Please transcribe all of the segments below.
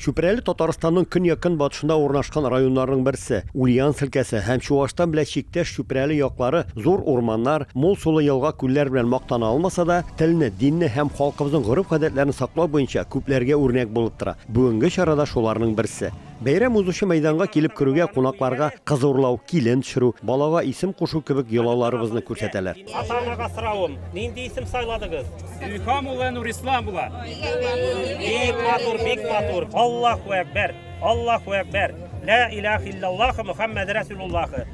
Чүпрәле Татарстанның көньяк-көнбатышында урнашкан районнарның берсе, Ульяновск өлкәсе һәм Чуашстан белән чиктәш Чүпрәле яклары зур урманнар, мул сулы елга-күлләр белән мактана алмаса да, телне, динне һәм халкыбызның гореф-гадәтләрен саклау буенча күпләргә үрнәк булып тора. Бүгенге чара да шуларның берсе. Бәйрәм узучы мәйданга килеп керүгә кунакларга кыз урлау, килен төшерү, балага исем кушу кебек йолаларыбызны күрсәтәләр. Ата-анага соравым, нинди исем сайладыгыз? Илһам улы Нурислам була. Бик матур, бик матур. Аллаһу әкбәр. Аллаһу әкбәр. Ла илаха иллаллаһ Мухаммад Расулуллаһ.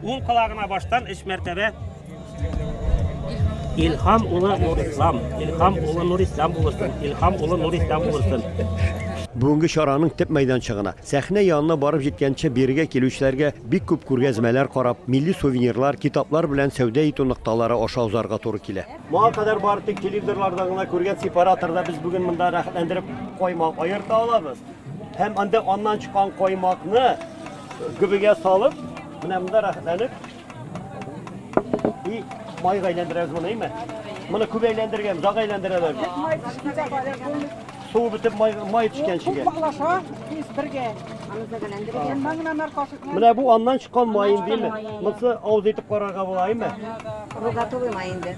Ул колагына баштан өч мәртәбә Илһам улы Нурислам, Илһам улы Нурислам булсын, Илһам улы Нурислам булсын. Бүгенге чараның төп мәйданчыгына Сәхнә янына барып җиткәнче бирегә килүчеләргә бик күп күргәзмәләр карап, милли сувенирлар, китаплар белән сәүдә итү нокталары аша узарга туры килә. Моңа кадәр бары тик телевизорларда гына күргән сепараторда без бүген монда рәхәтләндереп каймак аерта алабыз. Һәм анда аннан чыккан каймакны гөбегә салып, менә монда рәхәтләнеп И майга әйләндерәбез моны, әйме? Моны күп әйләндергән, озак әйләндерәләр. Бик май төшкәндә бары булмый. Су бетеп май май төшкәнчегә. Күп малаша, тиз бергә. Аны да әйләндергән. Моннан гына нар кашык. Менә бу аннан чыккан май инде, әйме? Монсы авыз итеп карарга була, әйме? Бу готовый май инде.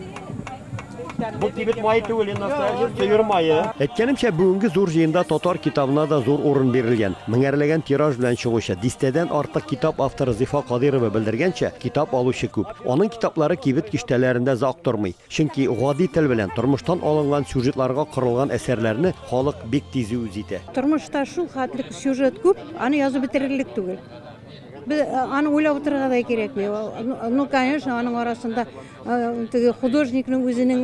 Бу кибет мае түгел, инде настоящий төер мае. Әйткәнемчә, бүгенге зур җыенда татар китабына да зур урын бирелгән. Меңәрләгән тираж белән чыгучы, дистәдән артык китап авторы Зифа Кадыйрова белдергәнчә, китап алучы күп. Аның китаплары кибет киштәләрендә зак тормый. Чөнки гади тел белән, тормыштан алынган сюжетларга корылган әсәрләрне халык бик тиз үз итә. Тормышта шул хәтле сюжет күп, аны язып бетерерлек түгел. Без аны уйлап утырырга да кирәкми. Ну, конечно, аның арасында теге художникның үзенең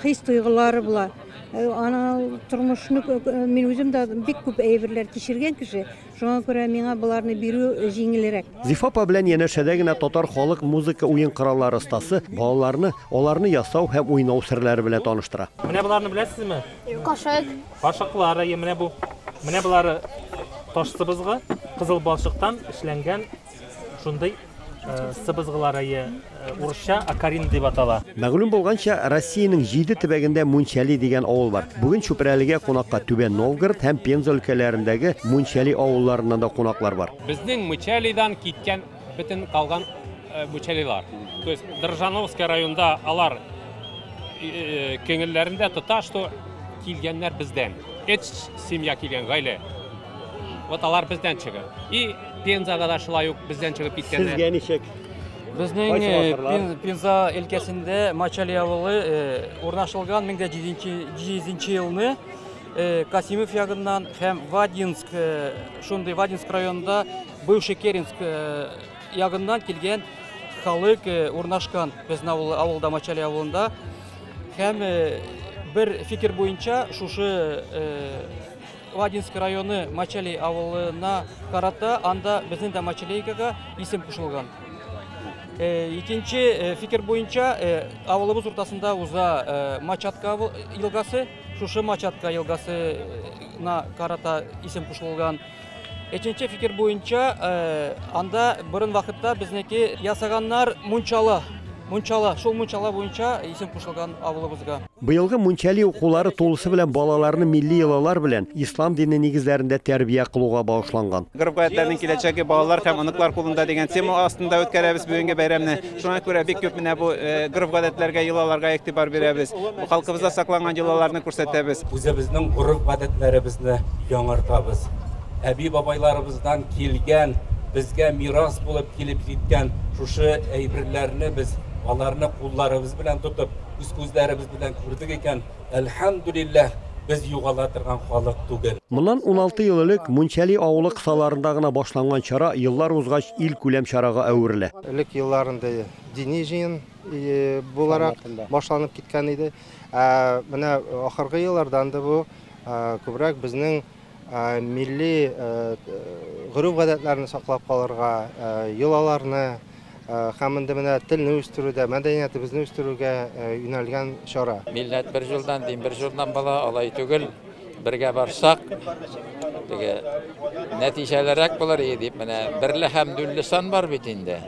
хис-тойгылары була. Ана тормышны мин үзем дә бик күп әйберләр кичергән кеше. Шуңа күрә миңа боларны бирү җиңелрәк. Зифа апа белән янәшәдә генә татар халык музыка уен кораллары остасы балаларны аларны ясау һәм уйнау серләре белән таныштыра. Менә боларны беләсезме? Кашык. Кашыклар, әйе, менә бу. Менә болары таш сыбызгы, кызыл балчыктан эшләнгән шундый э, сыбызгылар, әйе, э, урысча акарин дип атала. Мәгълүм булганча, Россиянең җиде төбәгендә Мунчали дигән авыл бар. Бүген Чүпрәлегә кунакка Түбән Новгород һәм Пенза өлкәләрендәге Мунчали авылларыннан да кунаклар бар. Безнең Мычалидан киткән Бөтен калган э, Бучалилар. То есть Држановский районда алар э, көңелләрендә тота, что килгәннәр бездән. Эт семья килгән гаилә. Вот алар бездән чыгып. И Пензага да шулай ук бездән чыгып киткәннәр. Сезгә ничек? Безнең Кайсы э, вакытлар? Пен- Пенза өлкәсендә Мачали авылы э, урнашылган 1700 елны э, Касимов ягыннан һәм Вадинск э, шундый Вадинск районында Бывший Керенск ягыннан килгән халык урнашкан безнең авыл, авылда Мачали авылында һәм бер фикер буенча шушы Вадинск районы Мачали авылына карата анда безнең дә Мачалейкага исем кушылган. Э, икенче э, фикер буенча э, авылыбыз уртасында уза Мачатка елгасы, шушы Мачатка елгасына карата исем кушылган. Эченче фикер буенча, э, анда борын вакытта безнеке ясаганнар мунчала. Мунчала, шул мунчала буенча исем кушылган авылыбызга. Быелгы мунчали укулары тулысы белән балаларны милли йолалар белән ислам дине нигезләрендә тәрбия кылуга багышланган. Гореф-гадәтләрнең киләчәге балалар һәм оныклар кулында дигән тема астында үткәрәбез бүгенге бәйрәмне. Шуңа күрә бик күп менә бу э, гореф-гадәтләргә, йолаларга игътибар бирәбез. Бу халкыбызда сакланган йолаларны күрсәтәбез. Үзебезнең гореф-гадәтләребезне яңартабыз. Әби-бабайларыбыздан килгән, безгә мирас булып килеп җиткән шушы әйберләрне без аларны кулларыбыз белән тотып, үз күзләребез белән күрдек икән, Әлхәмдүлилләһ, без югала торган халык түгел. Моннан уналты ел элек Мунчәли авылы кысаларында гына башланган чара еллар узгач илкүләм чарага әверелә. Элек елларында дини җыен буларак башланып киткән иде. Ә менә ахыргы елларда анда бу күбрәк безнең милли гореф-гадәтләрне саклап калырга, йолаларны һәм инде менә телне үстерүдә, мәдәниятебезне үстерүгә юнәлгән чара. Милләт бер җулдан, дин бер җулдан була, алай түгел. Бергә барсак, теге нәтиҗәлерәк булыр иде дип, менә берле һәм дүлле сан бар бит инде.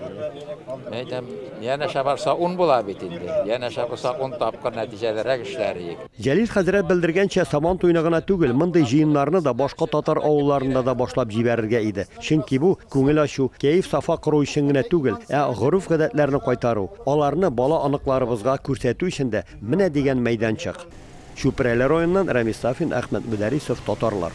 Әйтәм, янәшә барса ун була бит инде. Янәшә булса ун тапкыр нәтиҗәлерәк эшләр иек. Җәлил хәзрәт белдергәнчә, Сабан туена гына түгел, мондый җыеннарны да башка татар авылларында да башлап җибәрергә иде. Чөнки бу, күңел ачу, кәеф-сафа кору өчен генә түгел, ә гореф-гадәтләрне кайтару, аларны бала-оныкларыбызга күрсәтү өчен дә менә дигән мәйданчык. Чүпрәле районыннан Рәмис Сафин, Әхмәт Мөдәрисов, Татарлар.